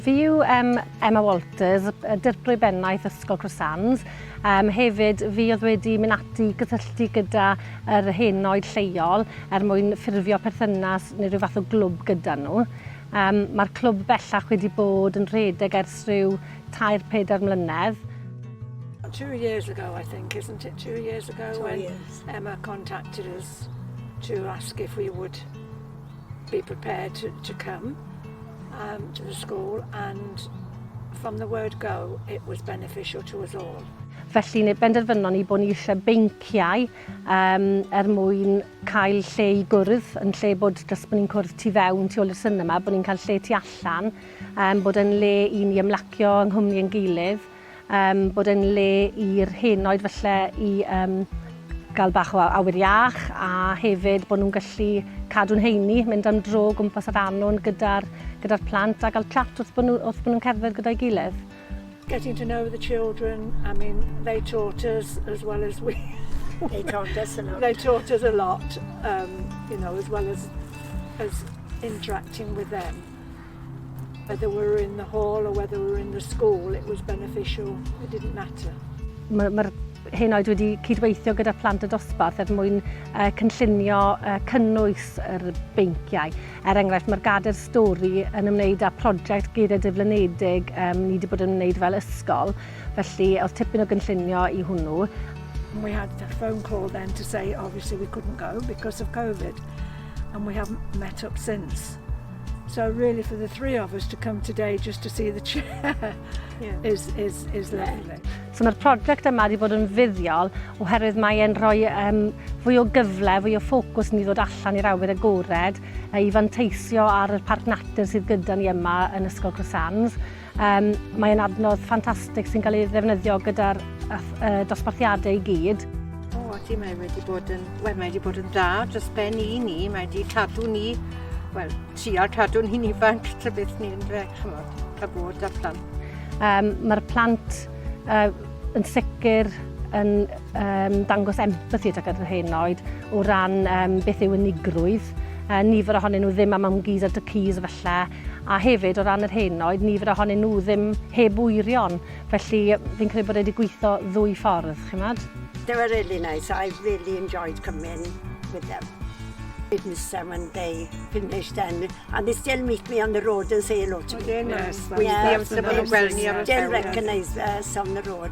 Fi yw um, Emma Walters, dirprwy bennaeth Ysgol Croissants. Um, hefyd, fi oedd wedi mynd ati gysylltu gyda yr henoed lleol er mwyn ffurfio perthynas neu rhyw fath o glwb gyda nhw. Um, Mae'r clwb bellach wedi bod yn rhedeg ers rhyw tair pedair mlynedd. Two years ago, I think, isn't it? Two years ago. Two when, years. Emma contacted us to ask if we would be prepared to, to come um, to the school and from the word go it was beneficial to us all. Felly ni benderfynon ni bod ni eisiau beinciau um, er mwyn cael lle i gwrdd, yn lle bod dros bod ni'n cwrdd tu fewn, tu ôl i'r syniad yma, bod ni'n cael lle tu allan, um, bod yn le i ni ymlacio yng nghwmni yn gilydd. Yym, bod e'n le i'r hen oed falle i yym gael bach o awyr iach a hefyd bod nhw'n gallu cadw'n heini, mynd am dro o gwmpas yr annwn gyda'r gyda'r plant a gael chat wrth bod nhw wrth bod nhw'n cerdded gyda'i gilydd. Getting to know the children, I mean, they taught us as well as we. They taught us a lot. They taught us a lot, um, you know, as well as as interacting with them. Whether we were in the hall or whether we were in the school, it was beneficial, it didn't matter. Mae'r ma hyn oed wedi cydweithio gyda plant y dosbarth er mwyn uh, cynllunio uh, cynnwys yr beinciau. Er enghraifft, mae'r gader stori yn ymwneud â prosiect geiriau diflynedig um, ni wedi bod yn ymwneud fel ysgol, felly oedd tipyn o gynllunio i hwnnw. We had a phone call then to say obviously we couldn't go because of COVID. and we haven't met up since. So really for the three of us to come today just to see the chair yeah. is, is, is lovely. So mae'r prosiect yma wedi bod yn fuddiol oherwydd mae e'n rhoi um, fwy o gyfle, fwy o ffocws ni ddod allan i'r awyr agored i fanteisio ar y parc natur sydd gyda ni yma yn Ysgol Crosands. Um, mae'n adnodd ffantastig sy'n cael ei ddefnyddio gyda'r uh, dosbarthiadau i gyd. O, oh, ti, mae wedi bod yn, well, mae wedi bod yn dda dros ben i ni, mae wedi cadw ni, wel, trial cadw ni'n ifanc tra beth ni'n dre, chymod, cael bod â plant. Um, Mae'r plant uh, yn sicr yn um, dangos empathi tuag at yr hyn oed o ran um, beth yw unigrwydd. Uh, nifer ohonyn nhw ddim am am gyd ar dy cys efallai, a hefyd o ran yr hyn oedd nifer ohonyn nhw ddim heb wyrion, felly fi'n credu bod e wedi gweithio ddwy ffordd, chi'n gwybod? They were really nice, I really enjoyed coming with them. It was them when they finished and, and they still meet me on the road and say hello to me. They're nice. Yeah, yeah, yeah, yeah, well, yeah, still recognise us on the road.